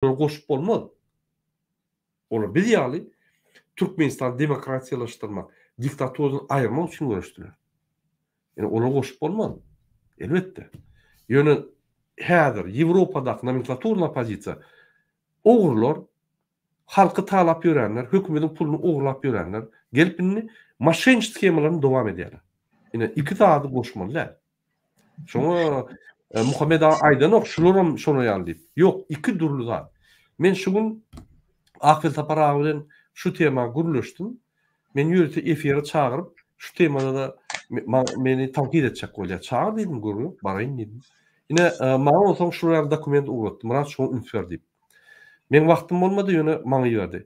Olar goşup bolmaz. Olar biz ýaly Türkmenistany demokratiýalaşdyrmak, diktaturadan aýyrmak üçin göreşdiler. Ýöne olar goşup bolmaz. Elbetde. Ýöne häzir Ýewropadaky nomenklaturny oppozisiýa ogrular, halky talap ýörenler, hökümediň puluny ogurlap ýörenler gelip indi moşenniç shemalaryny dowam edýärler. Ine iki zady goşmaly däl. Şoňa e, Muhammed aga aýdanok, şularam şoňa ýaly diýip. Ýok, iki dürli zat. Men şu gün Akfel Sapar aga bilen şu tema gürleşdim. Men ýörite efire çagyryp, şu temada da meni tankyt etjek bolýar. Çagyr diýdim, gürle, baraýyn diýdim. Ine, e, maňa bolsaň şular dokument ugratdy. Murat şoňa üns ber diýip. Men wagtym bolmady, ýöne maňa ýördi.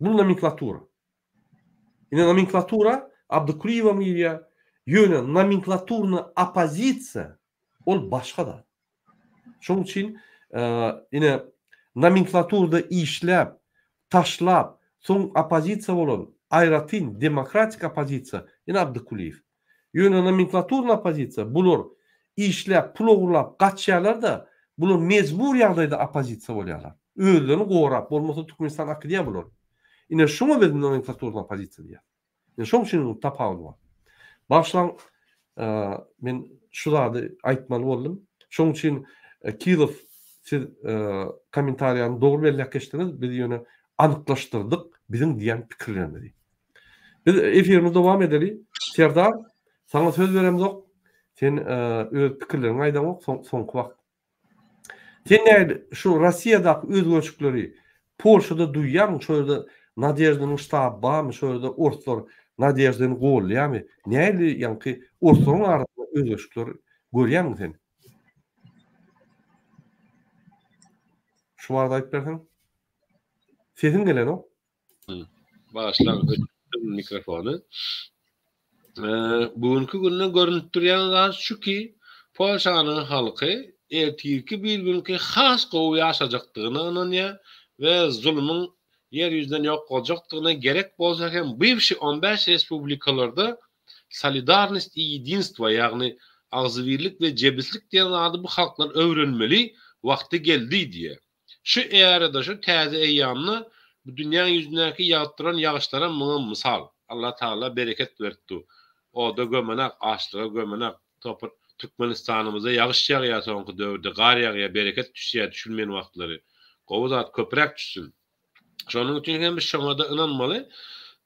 Bu nomenklatura. Indi nomenklatura Abdykulyýewa milýa, ýöne nomenklaturna oppozisiýa ol başga zat. Şoň üçin ine nomenklaturda işläp, taşlap, soň oppozisiýa bolan aýratyn demokratik oppozisiýa ine Abdykulyýew. Ýöne nomenklaturny oppozisiýa, bular işläp, pul ogurlap gaçýarlar-da, bular mejbur ýagdaýda oppozisiýa bolýarlar. Özlerini gorap, bolmasa Türkmenistan akydýar bular. Ine şuňa biz nomenklaturny oppozisiýa diýýäs. Ine şoň üçin tapawut bar. Bagyşlaň, men şu zady aýtmaly boldum. Şoň üçin Kilow siz kommentariýany dogry belläp geçdiňiz, biz ýöne anyklaşdyrdyk biziň diýen pikirlerimizi. Biz efirimizi dowam edeli. Serdar, saňa söz beremzok. Sen öz pikirleriňi aýdaňok, soňky wagt. Sen näde şu Russiýadaky özgerişikleri Polşada duýýarmyň? Şo ýerde Nadeždanyň ştaby barmy? Şo ýerde orslar Nadeždany goldaýarmy? Nähili ýaňky orslaryň arasynda özgerişikler görýäňmi sen? Şu barada aýdyp berseň. Sesiň gelenok. Başlaň öçürdim mikrofony. Bu günki günde görünip durýan zat şu ki, Polşanyň halky ertirki bir günki has gowy ýaşajakdygyna ynanýar we zulumyň ýer ýüzünden ýok boljakdygyna gerek bolsa hem bywşi on bäş respublikalarda solidarnost i ýedinstwo ýagny agzybirlik we jebislik diýen zady bu halklar öwrenmeli wagty geldi diýýär. Şu ärada, şu täze eýýamda bu dünýäň ýüzündäki ýagyp duran ýagyşlaram muňa mysal. Allatagala bereket beripdi. Oda gömenak, açlyga gömenak. Topar Türkmenistanymyzda ýagyş ýagýar soňky döwürde, gar ýagýar, bereket düşýär düşülmeýän wagtlary. Gowy zat, köpräk düşsün. Şonuň üçin hem biz şoňa-da ynanmaly.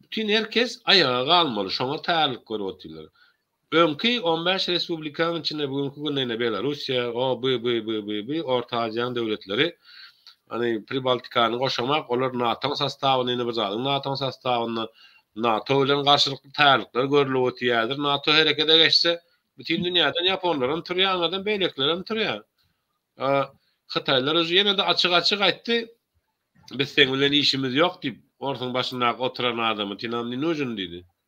Bütin her kes aýaga galmaly. Şoňa taýýarlyk görüp otyrlar. Öňki on bäş respublikanyň içinde bu günki günde ine Belarussiýa, o, bu, bu, bu, bu, bu, Orta Aziýanyň döwletleri, ony Pribaltikany goşamak, olar NATO-nyň sostawynda, ine bir zadyň NATO-nyň sostawynda, NATO bilen garşylykly taýýarlyklar görülip otýaýýr, NATO herekete geçse, bütin dünýäden ýaponlaram turýar, aňyrdan beýlekilerem turýar. A, hytaýlar uje ýene-de açyk-açyk aýtdy, Biz seň bilen işimiz ýok diýip, orsuň başyndaky oturan adamy, Ty nam ne nujin diýdi.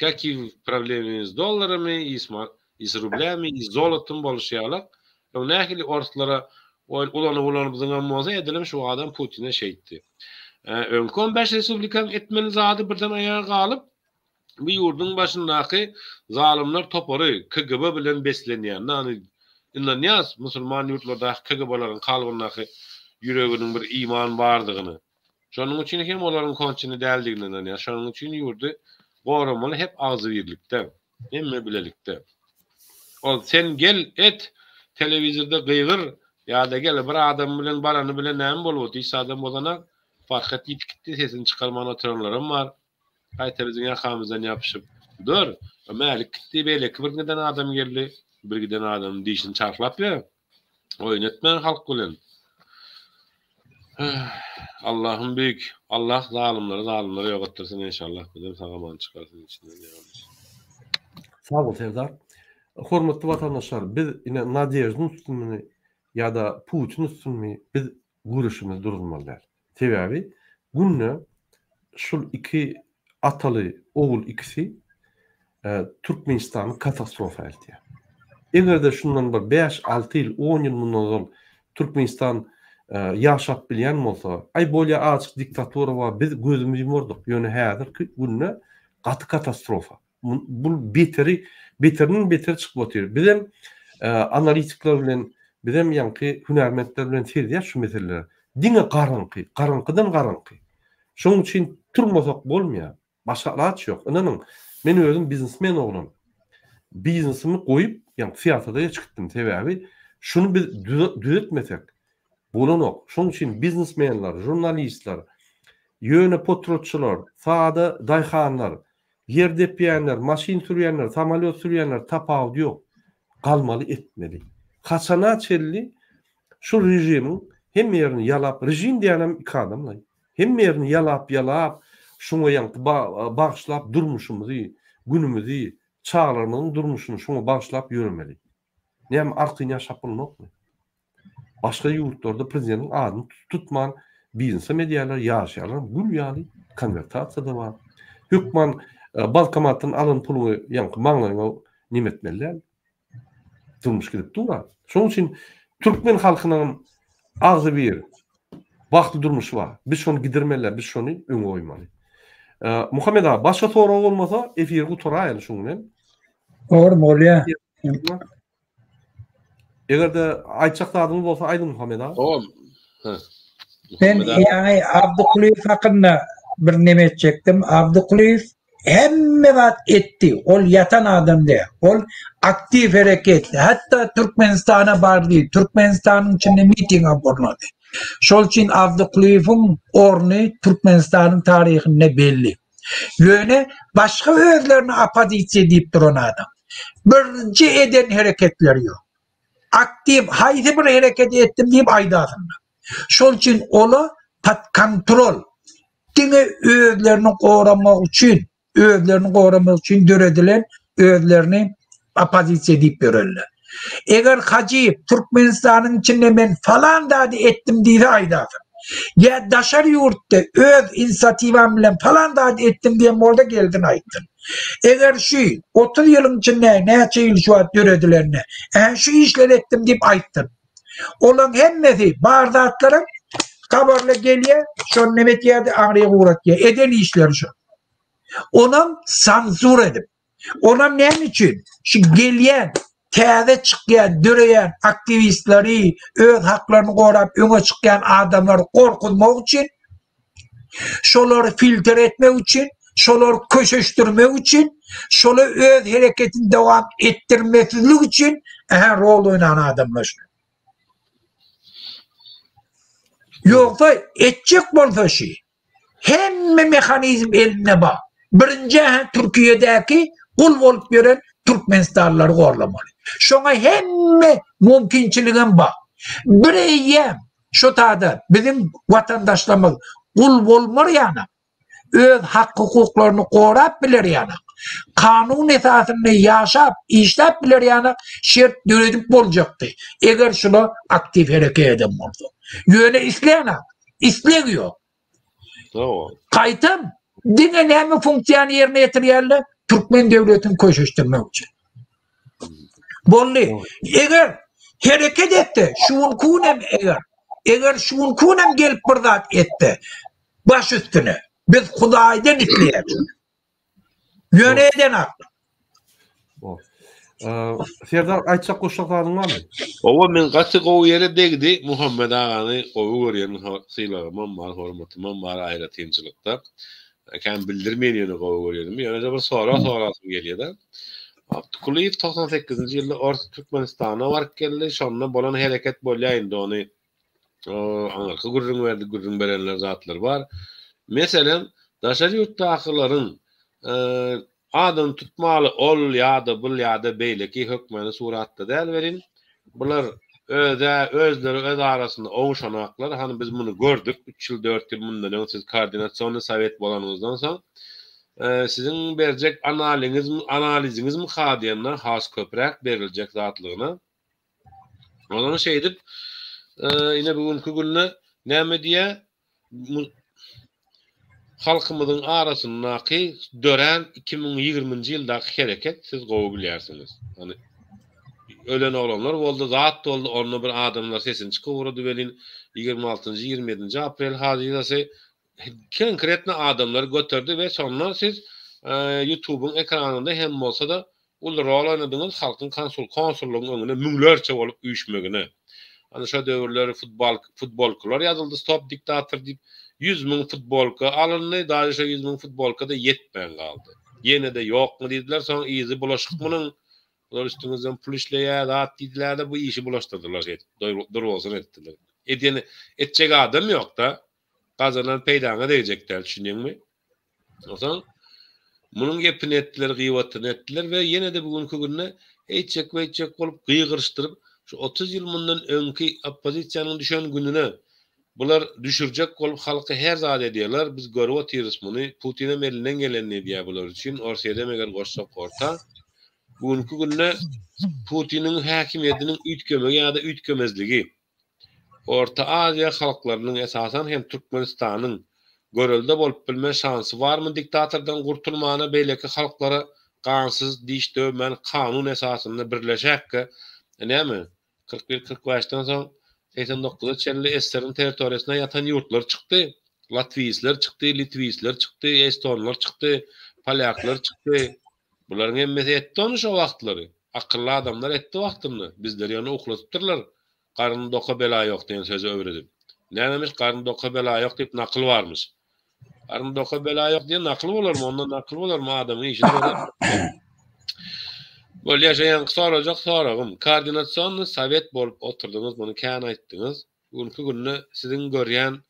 Kakiw problemi iz dollaramy iz iz rublämi iz zolotamy boluşy ýalak ýok nähili orslara oýun ulanyp ulanyp zyňan bolsa edelim şu adam putine şeýtdi öňki on bäş respublikaň etmeli zady birden aýaga galyp bu ýurduň başyndaky zalymlar topary kgb bilen beslenýär nany ynanýas musulman ýurtlardaky kgblaryň kalbyndaky ýüreginiň bir iman bardygyny Şonuň üçin hem olaryň konçini däldigine ynanýar. Şonuň üçin ýurdy goramaly hep agzybirlikde, hemme bilelikde. Ol sen gel, et, telewizorda gygyr, ýa-da gel, bir adam bilen barany bilen näme bolup otyr, hiç adam bozanak, Farhat ýitip gitdi, sesini çykarman oturanlaram bar. Gaýta biziň ýakamyzdan ýapyşyp dur. Mälik gitdi, beýleki bir giden adam geldi. Bir giden adamyň dişini çarhlap ýör. Oýun etme halk bilen. Allahym büyük. Allah zalymlary zalymlary yok ettirsin inşallah. Bizden sag aman çykarsyn içinden ýalnys. Sag bol Serdar. Hormatly watandaşlar, biz ine Nadejdiň üstünmi ýa-da Putin üstünmi? Biz Guruşymyzy duruzmaly däl. Sebäbi günde şul iki ataly ogul ikisi Türkmenistany katastrofa eltýär. Egerde şundan bir bäş, alty ýyl, on ýyl mundan ozal Türkmenistan ýaşap bilýän bolsa, aý bolýa azjyk diktatura bar, biz gözümizi ýumardyk, ýöne häzirki günde gaty katastrofa. Bu beteri beterinden beter çykyp otyr. Bizem analitikler bilen bizem ýaňky hünärmentler bilen sezýäs şu meseleleri. Diňe garaňky, garaňkydan garaňky. Şonuň üçin turmasak bolmaýar. Başga alaç ýok. Ynanyň, men özüm biznesmen oglan. Biznesimi goýup, ýaňky syýasata geç gitdim. Sebäbi şuny biz düzetmesek bolanok. Şonuň üçin biznesmenler, žurnalistler, ýöne potrotçylar, sada daýhanlar, Ýer depýänler, maşyn sürýänler, samolýot sürýänler tapawudy ýok. Galmaly etmeli. Haçana çenli şu režimiň hemme ýerini ýalap, režim diýenem iki adamlaý. Hemme ýerini ýalap ýalap, şuňa ýaňky bagyşlap durmuşymyzy, günümizi, çagalarymyzyň durmuşyny şuňa bagyşlap ýöremeli. Näme artyn ýaşap bolmokmy? Başga ýurtlarda prezidentiň adyny tutman biznesem edýärler, ýaşaýarlar, gül ýaly konwertasiýada bar. Hökman bankomatdan alan puluňy ýaňky maňlaýyňa neme etmeli däl. Durmuş gidip dur-a. Şonuň üçin türkmen halkynyňam agzybir bagtly durmuşy bar. Biz şony gidirmeli däl, biz şony öňe goýmaly. Muhammet aga, başga sorag bolmasa, efiri gutaraýaly şuň bilen. Bar bolýa. Eger de aýtjak zadyňyz bolsa aýdyň Muhammed aga. Oň. Ben ýaňy Abdukulyýew hakynda bir näme etjekdim. Abdukulyýew hemme zat etdi. Ol ýatan adam däl. Ol aktiw hereket. Hatda Türkmenistana bardy. Türkmenistanyň içinde miting gurnady. Şol üçin Abdukulyýewiň orny Türkmenistanyň taryhynda belli. Ýöne başga özlerini oppozisiýa diýip duran adam. Birinji eden hereketleri ýok. Aktiw haýsy bir hereketi etdim diýip aýdasyňda. Şol üçin ola pod kontrol diňe özlerini goramak üçin, özlerini goramak üçin döredilen özlerini opozisiýa diýip ýörerler. Eger Hajyýew Türkmenistanyň içinde men falan zady etdim diýse aýdasyn. Ýa daşary ýurtda öz inisiatiwam bilen falan zady etdim diýen bolsa gelsin aýtsyn. Eger şu 30 ýylyň içinde näçe ýyl şu wagt döredilende ähä şu işleri etdim diýip aýtsyn. Olaň hemmesi bar zatlaram habarla gelýär, şony näme etýärdi, aňryk ugratýar. Eden işleri şu. Onam sanzur edip. Onam näme üçin? Şu gelýän täze çykýan, döreýän aktiwistleri, öz haklaryny gorap öňe çykýan adamlary gorkuzmak üçin, şolary filtr etmek üçin, şolary köşeşdirmek üçin, şola öz hereketini dowam etdirmesizlik üçin ähä rol oýnan adamlar şu. Ýogsa etjek bolsa şu. Hemme mehanizm elinde bar. Birinji äheň Türkiýedäki gul bolup ýören türkmenistanlylary gorlamaly. Şoňa hemme mümkinçiligem bar. Bireýýäm şu taýda biziň watandaşlarymyz gul bolmar ýanak, öz hak-hukuklaryny gorap biler ýanak, kanun esasynda ýaşap, işläp biler ýanak şert döredip boljakdy, eger şular aktiw hereket eden bolsa. Ýöne isleýänak. isleg ýok. Dogry. Gaýtam diňe näme funksiýany ýerine ýetirýärler? Türkmen döwletini köşeşdirmek üçin. Boldy. Eger hereket etse, şu gün kun hem eger, eger şu gün kun hem gelip bir zat etse, baş üstüne. Biz Hudaýdan isleýäris. Ýöne eden hakda. Serdar aýtjak goşjak zadyň barmy? Owa men gaty gowy ýere degdi. Muhammet agany gowy görýän sylagymam bar, hormatymam bar aýratynçylykda. Kän bildirmeýin ýöne gowy görýänimi. Ýöne-de bir sorag sorasym gelýär-de. Abdukulyýew togsan sekizinji ýylda Ors Türkmenistana baryp geldi. Şonda bolan hereket bolýar indi ony O, aňyrky gürrüň berdi, gürrüň berenler zatlar bar. Meselem, daşary ýurtdakylaryň adyny tutmaly ol ýa-da bul ýa-da beýleki hökmany suratda däl welin, bular öz-ä özleri öz arasynda oguşanaklar, hany biz muny gördük, üç ýyl, dört ýyl mundan öň siz koordinasionnyý sowet bolanyňyzdan soň siziň berjek analiňiz, analiziňizmyka diýende has köpräk beriljek zatlygyna Olar şeýdip, ine bu günki günde näme diýýär? Halkymyzyň arasyndaky dörän 2020-nji ýyldaky hereket siz gowy bilýärsiňiz. Ony ölen oglanlar boldy, zat boldy, onda bir adamlar sesini çykyp ugrady welin, ýigrimi altynjy, ýigrimi ýedinji aprel hazirasy Konkretno adamlary göterdi we şonda siz Ýutubyň ekranynda hem bolsada uly rol oýnadyňyz halkyň konsul konsullygyň öňüne müňlerçe bolup üýşmegine. Ana şo döwürler futbal futbolkalar ýazyldy stop diktator diýip ýüz müň futbolka alyndy daže şo ýüz müň futbolkada ýetmän galdy. Ýenede ýokmy diýdiler soň yzy bulaşyk munuň bular üstüňizden pul işleýär zat diýdilerde bu işi bulaşdyrdylar şeýdip doý durbolsun etdiler. Edýän etjek adam ýokda gazanan peýdaňa degjek däl, düşündiňmi? Onsoň, munuň gepini etdiler, gybatyny etdiler we ýene-de bu günki günde eýtjek-beýtjek bolup gygyryşdyryp, şu otuz ýyl mundan öňki oppozisiýanyň düşen gününe bular düşürjek bolup halky her zat edýärler, biz görüp otyrys muny, Putinem elinden gelenini edýär bular üçin, Orsyýedem eger goşsak orta, bu günki günde Putiniň häkimiýetiniň üýtgemegi ýa-da üýtgemezligi, Orta Aziýa halklarynyň, esasan hem Türkmenistanyň görelde bolup bilme şansy barmy diktatordan gurtulmana beýleki halklara gansyz diş döwmän kanun esasynda birleşäkkä näme kyrk bir kyrk bäşden soň segsen dokuza çenli SSR-iň territoriýasynda ýatan ýurtlar çykdy latwisler çykdy litwisler çykdy estonlar çykdy polýaklar çykdy Bularyň hemmesi etdi ony şo wagtlary. Akylly adamlar etdi wagtynda. Bizleri ýöne uklatypdyrlar. Garny doka bela ýok diýen sözi öwredip. Nämemiş, garny doka bela ýok diýip nakyl barmyş. Garny doka bela ýok diýen nakyl bolarmy? Ondan nakyl bolarmy? Adamyň işini görýän bolupdyr. Bolýa, şo ýaňky sorajak soragym. Koordinasionny sowet bolup oturdyňyz, muny kän aýtdyňyz. Bu günki günde siziň görýän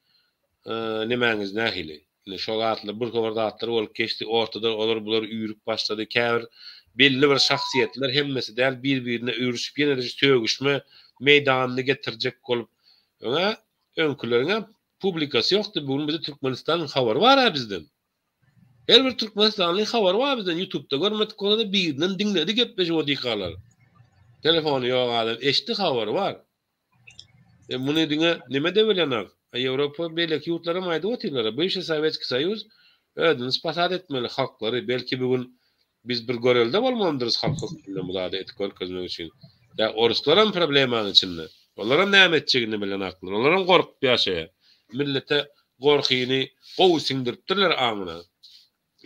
nemäňiz nähili? Indi şo zatlar, bir topar zatlar bolup geçdi, ortada olar, bular üýrüp başlady. Käbir belli bir şahsyýetler, hemmesi däl, bir-birine üýrüşip, ýene-de şu sögüşme meýdanyny getirjek bolup, öň-ä öňküleriň-ä publikasy ýokdy, bu gün bize Türkmenistanyň habary bar-ä bizden. Her bir türkmenistanlyň habary bar bizden, ýutubda görmedik bolsa-da, birinden diňledi gepleşik o diýkalar. Telefony ýok adam, eşitdi, habary bar. E muny diňe neme debelýaňak? A Ýewropa beýleki ýurtlaram aýdyp otyrlar-a, Bywşiý Sowetskiý Soýuz özüni spas-at etmeli, halklary, belki bu gün biz bir görelde bolmalydyrys halk hökmünde bu zady edip görkezmek üçin. Ýa oruslaram problemaň içinde. Olaram näme etjegini bilýänaklar. Olaram gorkup ýaşaýar. Millete gorkyny gowy siňdiripdirler aňyna.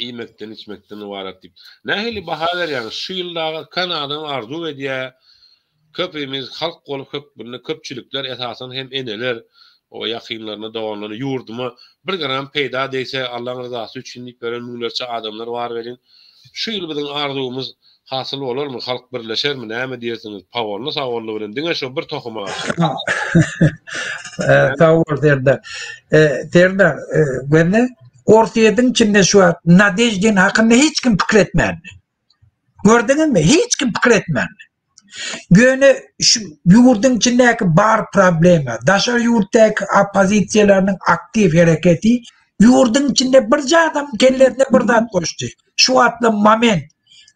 iýmekden içmekden ybarat diýip nähili baha berýäňiz şu ýyl dagy kan adam arzuw edýä köpimiz halk bolup hökmünde köpçülikler esasan hem eneler o ýakynlaryna doganlaryna ýurduma bir gram peýda degse Allaň ryzasy üçin diýip beren müňlerçe adamlar bar welin şu ýyl biziň arzuwymyz Hasyl bolarmy halk birleşermi näme diýersiňiz pagolny sagolny bilen diňe şo bir tohuma garşy. Sag bol Serdar. Serdar göni Orsýetiň içinde şu wagt Nadeždin hakynda hiç kim pikir etmändi. Gördüňizmi? Hiç kim pikir etmändi. Göni şu ýurduň içindäki bar problema, daşary ýurtdaky oppozisiýalarynyň aktiw hereketi ýurduň içinde birje adam kellesine bir zat goşdy. Şu wagtla moment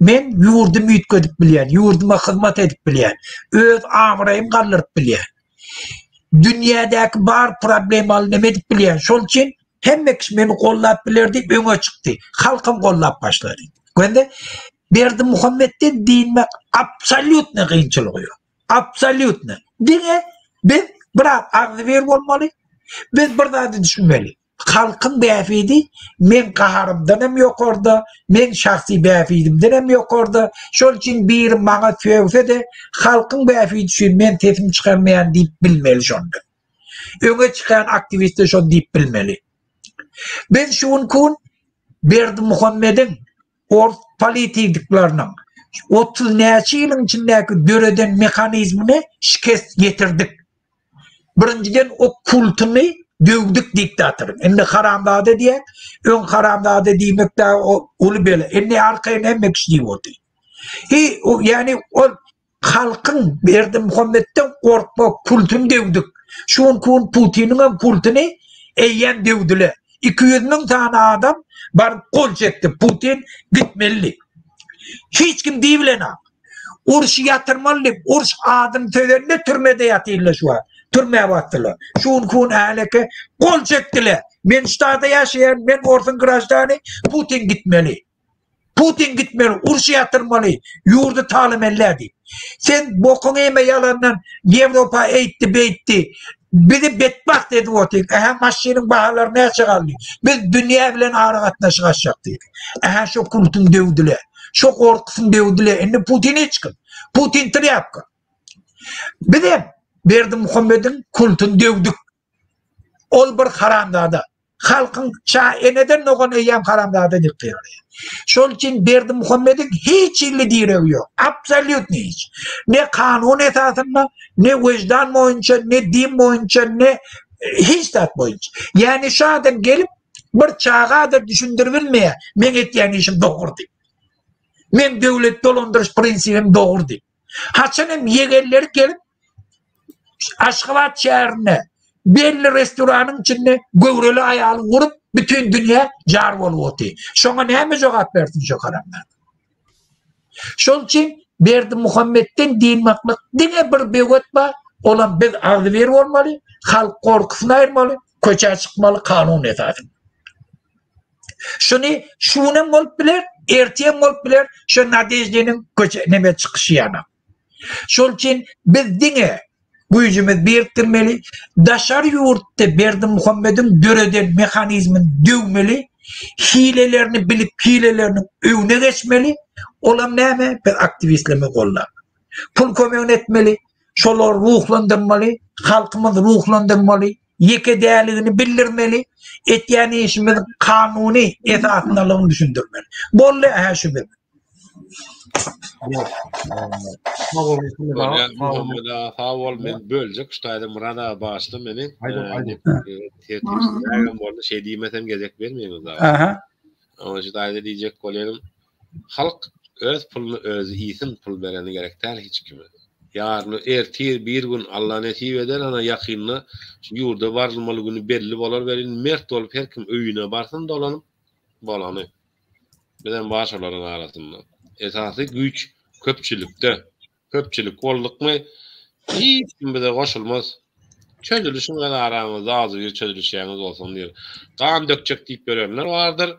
men ýurdumy üýtgedip bilýän, ýurduma hyzmat edip bilýän, öz abraýymy galdyryp bilýän. Dünýädäki bar problemaly neme edip bilýän. Şol üçin hemme kişi meni gollap biler diýip öňe çykdy. Halkym gollap başlady. Göndi Berdi Muhammetden diýmek absolýutny gynçylygy ýok. Absolýutny. Diňe biz biraz agzybir bolmaly, biz bir zady düşünmeli. Halkyň bähbidi meň gaharymdan hem ýokarda, meň şahsy bähbidimden hem ýokarda. Şol üçin biri maňa sögse-de, halkyň bähbidi üçin men sesimi çykarmaýan diýip bilmeli şonda. Öňe çykan aktiwistler şony diýip bilmeli. Biz şu günki gün Berdimuhamediň ors politidikleriniň otuz näçe ýylyň içindäki döreden mehanizmine şikes ýetirdik. Birinjiden o kultuny döwdük diktatoryň. Indi haramzada diýýär. Öň haramzada diýmek dagy uly bela. Indi arkaýyn hemme kişi diýip otyr. He, ýani ol Halkyň Berdimuhamedden gorkma kultun dewdik. Şu günki gün Putiniňem kultuny eýýäm dewdüle. Iki ýüz müň sany adam baryp gol çekdi. Putin gitmelidi. Hiç kim diýibilenok. Urşy ýatyrmaly diýip, urş adyny sözende türmede ýatyrlar şu wagt. Türmä basdylar. Şu günki gün häleki gol çekdiler. Men Ştada ýaşaýan, men orsuň graždany, Putin gitmeli. Putin gitmeli, urşy ýatyrmaly, ýurdy talamelledi. Sen bokuň eme ýalandan Ýewropa eýtdi, beýtdi. Bizi betbagt edip otyr. Ähä maşynyň bahalary näçe galdy? Biz dünýä bilen aragatnaşyk açjak diýdi. Ähä şo Putin döwdüle. Şo gorkusyny döwdüle. Indi Putin hiç kim. Putin trýapka. Bizem Berdimuhamediň kultyny döwdük. Ol bir haramzada. Halkyň şa eneden dogan eýýäm haramzada edip ýördi. Şol üçin Berdimuhamediň hiç hilli diregi ýok. Absolýutny hiç. Ne kanun esasynda, ne weždan boýunça, ne din boýunça, ne e, hiç zat boýunça. Ýani şu adam gelip bir çagadyr düşündirip bilmeýär. Men etýän işim dogry diýip. Men döwlet dolandyryş prinsibim dogry diýip. Haçan hem ýegenleri gelip Aşgabat şäherinde belli restoranyň içinde göwreli aýaly urup, bütin dünýä jar bolup otyr. Şoňa näme jogap bersin şu haramlar? Şol üçin Berdimuhammetden dynmaklyk diňe bir böwet bar, olam biz agzybir bolmaly, halk gorkusyny aýyrmaly, köçä çykmaly kanun esasynda. Şuny şu gün hem bolup biler, ertir hem bolup biler, şu Nadeždiniň köçä neme çykyşy ýaly. Şol üçin biz diňe güýjümizi birikdirmeli, daşary ýurtda Berdimuhamediň döreden mehanizmini döwmeli, hilelerini bilip, hileleriniň öňüne geçmeli. Olam näme? Biz aktiwistlerimizi goldap, pul kömegini etmeli, şolary ruhlandyrmaly, halkymyzy ruhlandyrmaly, ýekedeligini bildirmeli, etýän işimiziň kanuny esasyndalygyny düşündirmeli. Boldy, hä şu biziň. Sag bol, men böljek ştaýda Murad aga başda meni tertipsizlägem boldy, şeý diýmesem gezek bermeýin o zada. Aha. Oňa şu taýda diýjek bolýarym, halk öz puluny özi iýsin, pul bereni gerek däl hiç kime. Ýaryny, ertir, bir gün Alla nesip eder, ana ýakynda şu ýurda barylmaly güni belli bolar welin, mert bolup her kim öýüne barsyn dolanyp, bolany. Bizem bar şolaryň arasynda. Esasy güýç köpçülikde. Köpçülik boldukmy, hiç kim bize goşulmaz. Çözülişiň öz araňyzda agzybir çözülişýäňiz bolsun diýer. Gan dökjek diýip ýörenler bardyr.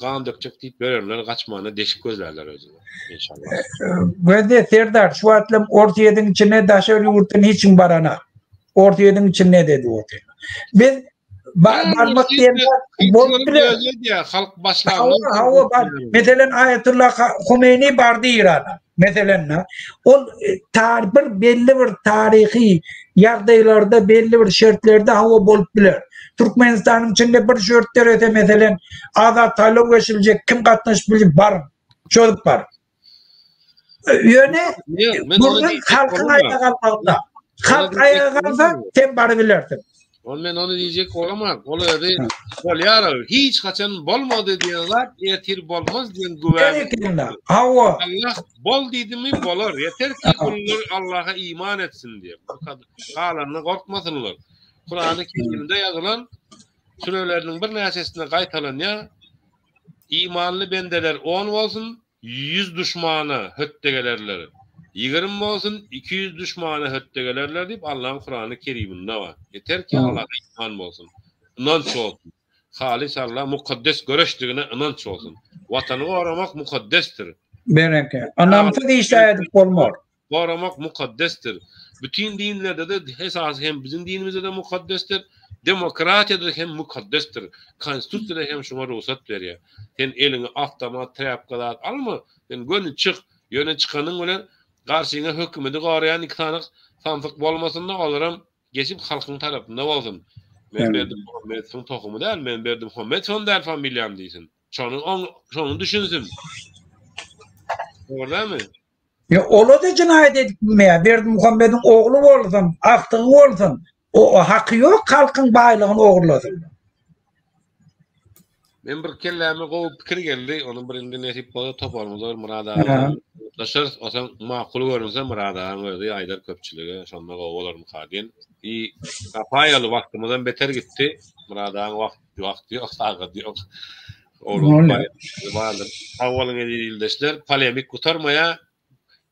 Gan dökjek diýip ýörenler gaçmana deşik gözlärler özüne. Inşallah. Gözde Serdar şu wagtlam Orsýetiň içine daşary ýurtdan hiç kim baranak. Orsýetiň içinde dedi Orsýet. Biz Barmak diýen bolup biler. Halk başlangy. Hawa, bar. Meselen, Aýatullah Humeýni bar diýir adam. Meselen, ol tar bir belli bir taryhy ýagdaýlarda, belli bir şertlerde hawa bolup biler. Türkmenistanyň içinde bir şert dörese, meselen, Azat Salow geçiljek, kim gatnaşyp biljek, bar. Çözüp bar. Ýöne burnuň halkyň aýaga galmagynda. Halk aýaga galsa, sen bary bilersiň. Ol men ony diýjek bolamam. Ol özi bolýar. Hiç haçan bolmady diýen zat ertir bolmaz diýen güwä. Hawa. Allah bol diýdimi bolar. Ýeter ki gullar Allaha iman etsin diýip. Galanyna gorkmasynlar. Kurany Kerimde ýazylan süreleriniň birnäçesinde gaýtalanýar. Imanly bendeler on bolsun, ýüz duşmana hötde gelerler. Ýigrimi bolsun, iki ýüz duşmana hötde gelerler diýip, Allaň Kurany Keriminde bar. Ýeter ki, Allaha iman bolsun, ynanç bolsun. Halys Alla mukaddes göreşdigine ynanç bolsun. Watany goramak mukaddesdir. Berekella. Ynamsyz iş-ä edip bolmaz. goramak mukaddesdir. Bütin dinlerde-de, esasy hem biziň dinimizde-de mukaddesdir. Demokratiýada hem mukaddesdir. Konstitusiýa-da hem şuňa rugsat berýär. Sen eliňe awtomat, trapka zat alma, sen göni çyk, ýöne çykanyň bilen garşyňa hökümeti goraýan iki sany samsyk bolmasyn-da, olaram geçip halkyň tarapynda bolsun. Men Berdimuhamedowyň tohumy däl, men Berdimuhamedowam däl familiýam diýsin. Şony oň, şony düşünsin. Dogry dälmi? Ya ola da cinayet edip bilmeýär. Berdimuhamediň ogly bolsun, agtygy bolsun. O, o haky ýok halkyň baýlygyny ogurlasyn. Men bir kelläme gowy pikir geldi. Ony bir indi nesip bolsa toparymyzda bir Murad aga bilen Aha. gürleşeris. O sen makul görünse Murad agaň özi aýdar köpçülige. Şonda gowy bolarmyka diýen. I Sapaýaly wagtymyzdan beter gitdi. Murad agaň wagty Wagt ýok, sagat ýok. Olar bardyr. Sag boluň eziz ildeşler. Polemik gutarmaýar.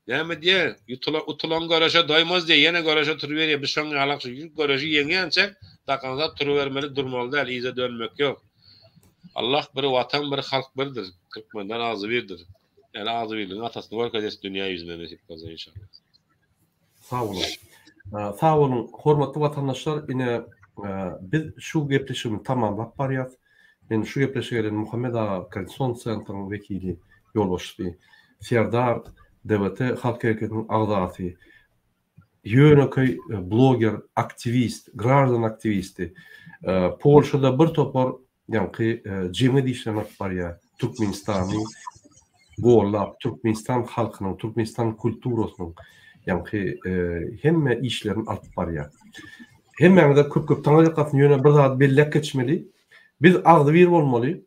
Näme diýýär? Ýutula utulan göreşe doýmaz diýýär. Ýene göreşe turuberýär. Biz şoň ýalak şu göreşi ýeňýänçä dakansa turubermeli, durmaly däl, yza dönmek ýok. Allah bir, Watan bir, halk birdir. Türkmenler agzybirdir. Ýaly agzybirligiň atasyny görkezesi dünýä ýüzüne nesip bolsa inşallah. Sag boluň. Sag boluň, hormatly watandaşlar, ine, biz şu gepleşigimizi tamamlap barýas. Men şu gepleşige gelen Muhammet aga, Konstitusion Sentryň wekili, ýolbaşçysy, Serdar, DBT halk hereketiniň agzasy, ýönekeý bloger, aktiwist, graždan aktiwisti, Polşada bir topar Ýaňky jeňe dişlemek barýa Türkmenistany gollap Türkmenistan halkynyň Türkmenistan kulturasynyň ýaňky hemme işlerini alyp barýa. Hemmäňize köp köp taňa ýakasyn ýöne bir zat belläp geçmeli. Biz agzy bir bolmaly.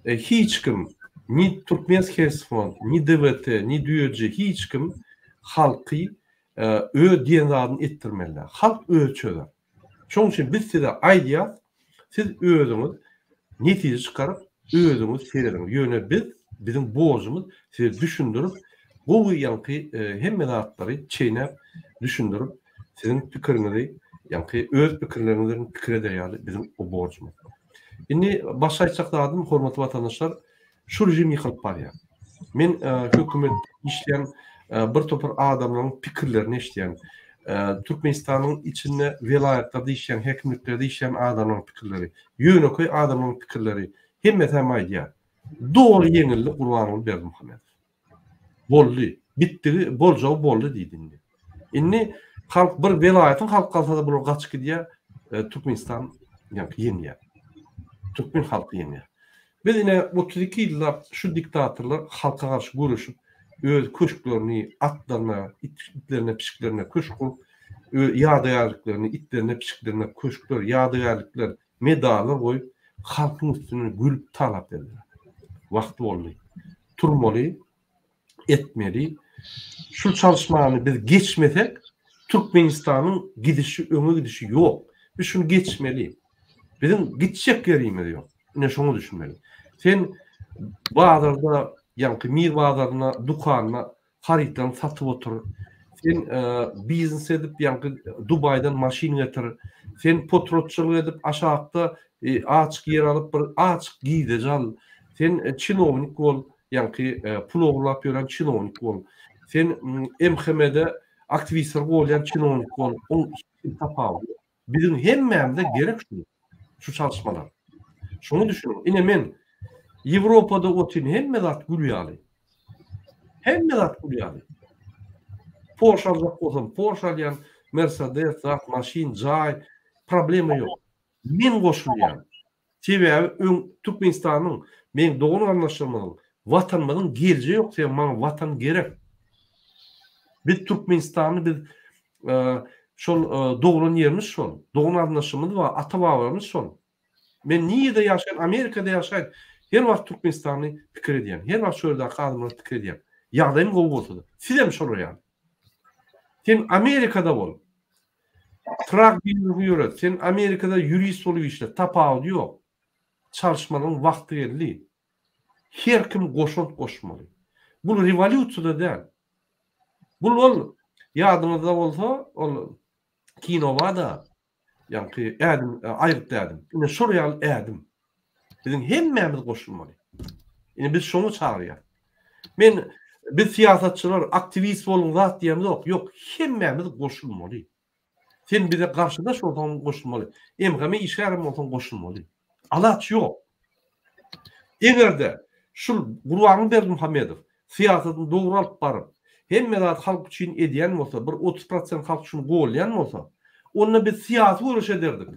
Hiç kim ni Türkmen Hersfon ni DWT ni Düýeji hiç kim halky öz diýen zadyny etdirmeli. Halk öz çözer. Şoň üçin biz size aýdýas, siz özüňiz netije çykaryp, özüňiz serediň. Ýöne biz, biziň borjumyz size düşündirip, gowy ýaňky hemme zatlary çeýnäp düşündirip, siziň pikiriňizi, ýaňky öz pikirleriňizden pikir eder ýaly biziň borjumyz. Indi başga aýtjak zadym, hormatly watandaşlar, Şu režim ýykylyp barýar. Men hökümet işleýän bir topar adamlaryň pikirlerini eşidýän. Türkmenistanyň içinde welaýatlarda işleýän, häkimliklerde işleýän adamlaryň pikirleri, ýönekeý adamlaryň pikirleri, hemmesi hem aýdýar. Doly ýeňildi Gurbanguly Berdimuhamedow. Boldy. Bitdigi, boljagy boldy diýdi indi. Indi halk bir welaýatyň halky galsa-da bular gaçyp gidýär, e, Türkmenistan ýaňky ýeňýär. Türkmen halky ýeňýär. Biz ine 32 ýyllap şu diktatorlar halka garşy göreşip, öz köşklerini atlaryna, it itlerine, pişiklerine köşk gurup, ö ýadygärliklerini itlerine, pişiklerine köşkler, ýadygärlikler, Medallar goýup, halkyň üstünden gülüp talap berdiler. Wagty boldy. Turmaly, etmeli. Şul çalyşmany biz geçmesek, Türkmenistanyň gidişi, öňe gidişi ýok. Biz şuny geçmeli. Biziň gitjek ýerimiz ýok. Ine şoňa düşünmeli. Sen bazarda, ýaňky Mir bazaryna, dukanyna Harytlaryňy satyp otur. Sen biznes edip ýaňky Dubaýdan maşyn getir. Sen potrotçylyk edip aşakda açyk ýer alyp bir açyk gizeji al. Sen çinownik bol, ýaňky pul ogurlap ýören çinownik bol. Sen MHM-de aktiwistleri golýan çinownik bol. Onuň hiç bir tapawudy ýok. Biziň hemmämize gerek şu, şu çalyşmalar. Şuny düşüniň, ine men Ýewropada otyryn, hemme zat gül ýaly. Hemme zat gül ýaly. Porsche aljak bolsam, Porsche alýan, Mercedes, zat, maşyn, jaý, problema ýok. Men goşulýan. Sebäbi öň Türkmenistanyň, meň dogan-garyndaşlarymyzyň, Watanymyzyň geljegi ýok, sebäbi maňa Watan gerek. Biz Türkmenistanly, biz şol doglan ýerimiz şol, dogan-garyndaşlarymyz bar, ata-babalarymyz şol. Men nirede ýaşaýyn, Amerikada ýaşaýyn, her wagt Türkmenistanly pikir edýän, her wagt şo ýerdäki adamlary pikir edýän, ýagdaýym gowy bolsa-da. Sizem şolar ýaly. Sen Amerikada bol. Trak biznesini ýöret. Sen Amerikada ýurist bolup işle. Tapawudy ýok. Çalyşmalaryň wagty geldi. Her kim goşant goşmaly. Bul rewolýusiýada däl. Bul ol ýadyňyzda bolsa ol kinobada Ýaňky ädim aýgytly ädim. Ine şol ýaly ädim. Biziň hemmämiz goşulmaly. Ine biz şoňa çagyrýas. Men biz syýasatçylar aktiwist boluň zat diýemzok. Ýok, hemmämiz goşulmaly. Sen bize garşydaş bolsaň goşulmaly. MHM işgärem bolsaň goşulmaly. Alaç ýok. Eger-de şul Gurbanguly Berdimuhamedow syýasatyny dogry alyp baryp, hemme zady halk üçin edýän bolsa, bir otuz prosent halk şuny golýan bolsa, onda biz syýasy göreş ederdik.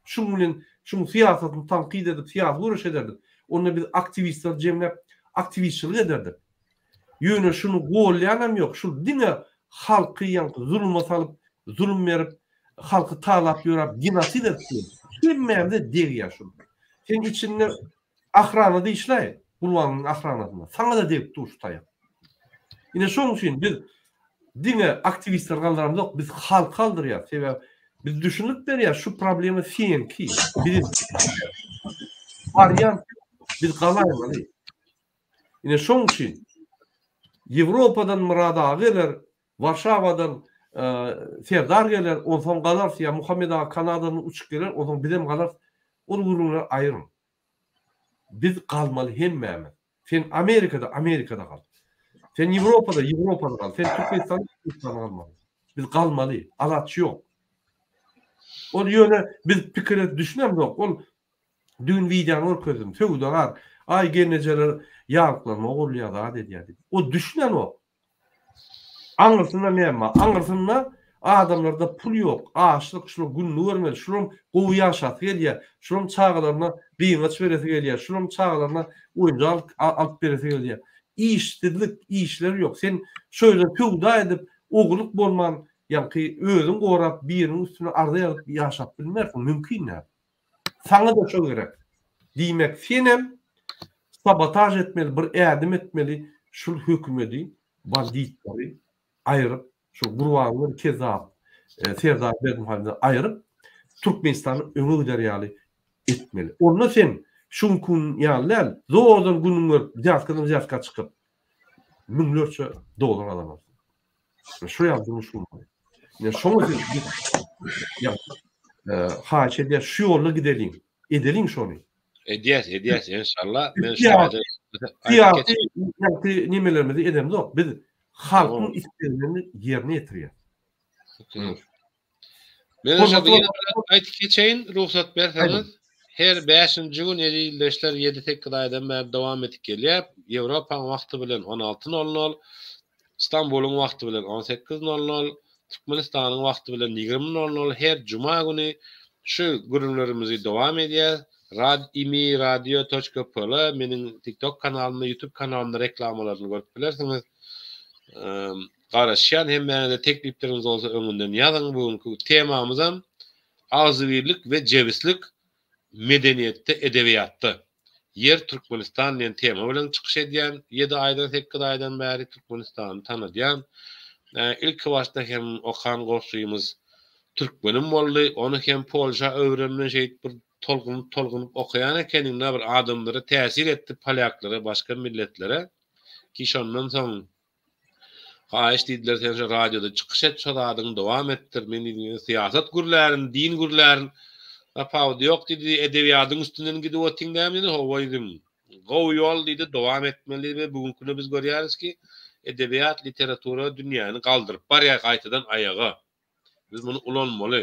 Şuň bilen şuň syýasatyny tankyt edip syýasy göreş ederdik. Onda biz aktiwistleri jemläp aktiwistçilik ederdik. Ýöne şuny golýanam ýok, şul diňe halky ýaňky zuluma salyp, zulum berip, halky talap ýöräp genosid etdi. Hemmämize degýär şul. Sen içinde ahranada işläý, gulbanyň ahranasynda. Saňada degip dur şu taýak. Ine şoň üçin biz diňe aktiwistleri galdyramzok, biz halky galdyrýas. Sebäbi biz düşünip berýäs şu problema seňki. Biz barýan biz galaýmaly. Ine şoň üçin Ýewropadan Myrad aga geler, Warşawadan Serdar geler, onsoň galarys ýa Muhammet aga Kanadadan uçup geler, onsoň bizem galarys. Ol gürrüňleri aýryň. Biz galmaly hemmämiz. Sen Amerikada, Amerikada gal. Sen Ýewropada, Ýewropada gal. Sen Türkmenistanda, Türkmenistanda galmaly. Biz galmaly. Alaç ýok. Ol ýöne biz pikire düşünemzok. Ol Düýn wideony görkezdim. Söwdagär, Aý gelnejeler ýalyklaryma ogurlaýar zat edýär diýip. O düşünenok. Aňyrsynda näme bar? Aňyrsynda adamlarda pul ýok, açlyk, şular gününi görmeli, şularyň gowy ýaşasy gelýär, şularyň çagalaryna gyňaç beresi gelýär, şularyň çagalaryna oýunjak alyp beresi gelýär. Işsizlik, işleri ýok. Sen şu ýerde söwda edip, ogurlyk bolman, ýaňky özüň gorap, biriniň üstüne arza ýazyp ýaşap bilmersiň, mümkin däl. Saňa-da şo gerek. Diýmek, senem sabotaž etmeli, bir ädim etmeli, şul hökümedi, banditlary aýryp, şul Gurbangül Kezzap, Serdar Berdimuhamedowy aýryp, Türkmenistany öňe gider ýaly etmeli. Onda sen şu günki gün ýaly däl, zordan günüň görüp, wzýatkadan wzýatka çykyp, müňlerçe dollar alarsyň. Şu ýa durmuş gurmaly. Ne şoňa ýa haýyş edýär, şu ýolda gideliň. Edeliň şony. Edýäs, edýäs inşallah. Men şu ýa ýa nimelerimizi edemzok. Biz halkyň isleglerini ýerine ýetirýäs. Meniňçe, Hormatly ýene bir zat aýdyp geçeýin, rugsat berseňiz. Her bäşinji gün ýedi ildeşler ýedi-sekiz aýdan bäri dowam edip gelýär. Ýewropaň wagty bilen on alty nol nol, Stambulyň wagty bilen on sekiz nol nol, Türkmenistanyň wagty bilen ýigrimi nol nol her juma güni şu gürrüňlerimizi dowam edýäs. Rad imi radio toçka pl meniň TikTok kanalymda, YouTube kanalymda reklamalaryny görüp bilersiňiz. Garaşýan hemmäňize teklipleriňiz bolsa öňünden ýazyň bu günki temamyzam Agzybirlik we jebislik medeniýetde edebiýatda Ýer Türkmenistan diýen tema bilen çykyş edýän ýedi aýdan sekiz aýdan bäri Türkmenistany tanadýan ilki başda hem okan goşgymyz Türkmenim boldy ony hem Polşa öwrenme şeýit bir tolgunyp tolgunyp okaýan ekeniňda bir adamlara täsir etdi polýaklara başga milletlere ki şondan soň Haýyş diýdiler sen şu radioda çykyş et şo zadyňy dowam etdir men diýdim ýöne syýasat gürlärin din gürlärin tapawudy ýok diýdi edebiýadyň üstünden gidip otyň dämi diýdi howwa diýdim gowy ýol diýdi dowam etmeli diýdi we bugüňki günde biz görýäris ki edebiýat literatura dünýäni galdyryp barýar gaýtadan aýaga. Biz muny ulanmaly.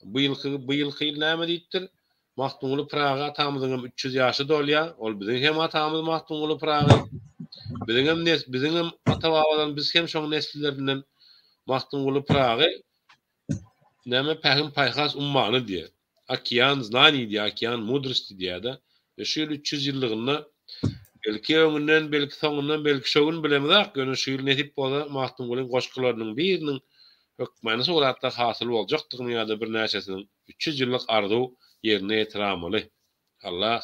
Bu ýylky bu ýylky ýyl näme diýipdir? Magtymguly Pyragy atamyzyňam üç ýüz ýaşy dolýa. Ol biziň hem atamyz Magtymguly Pyragy. Biziňem nes biziňem ata-babadan biz hem şoň neslilerinden Magtymguly Pyragy näme pähim-paýhas ummany diýýär. Okean znaний diýýär, okean mudrosti diýýär-de. Ýöne şu ýyl üç ýüz ýyllygynda, belki, öňünden, belki, soňundan, belki, şu gün bilemizok, ýöne şu ýyl nesip bolsa, Magtymgulyň goşgularynyň biriniň hökmany suratlar hasyl boljakdygyny ýa-da birnäçesiniň üç ýüz ýyllyk arzuw ýerine ýetiramaly. Allah!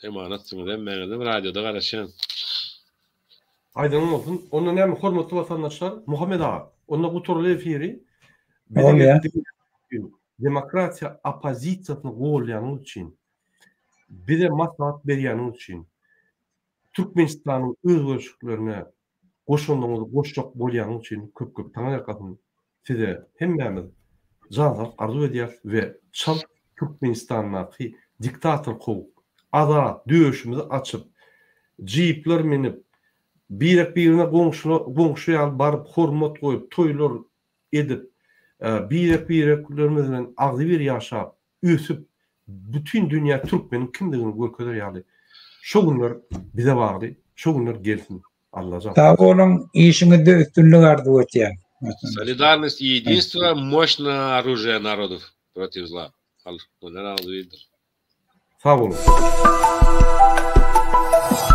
Emanatsyňyz hemmäňizem radioda garaşýan. Aýdanyň bolsun. Onda näme hormatly watandaşlar, Muhammet aga, onda gutarly efiri. Demokratiýa oppozisiýasyny golýanyňyz üçin, bize maslahat berýäniňiz üçin, Türkmenistanyň özgerişiklerine Goşandyňyzy goşjak bolýanyň üçin köp köp taňyrýakasyn size hemmämiz jan saglyk arzuw edýäris we çalt Türkmenistandaky diktator kowup azat döşümizi açyp jeepler minip birek birine goňşyna goňşy ýaly baryp hormat goýup toýlar edip birek bireklerimiz bilen agzybir ýaşap ösüp, bütin dünýä türkmeniň kimdigini görkezer ýaly şo günler bize bardy, şo günler gelsin Allajan. Sag boluň, işiňizde üstünlik arzuw etýän. Solidarnost i ýedinstwo moşna orujýa narodow protiv zla. Halk muny razy bildir. Sag boluň.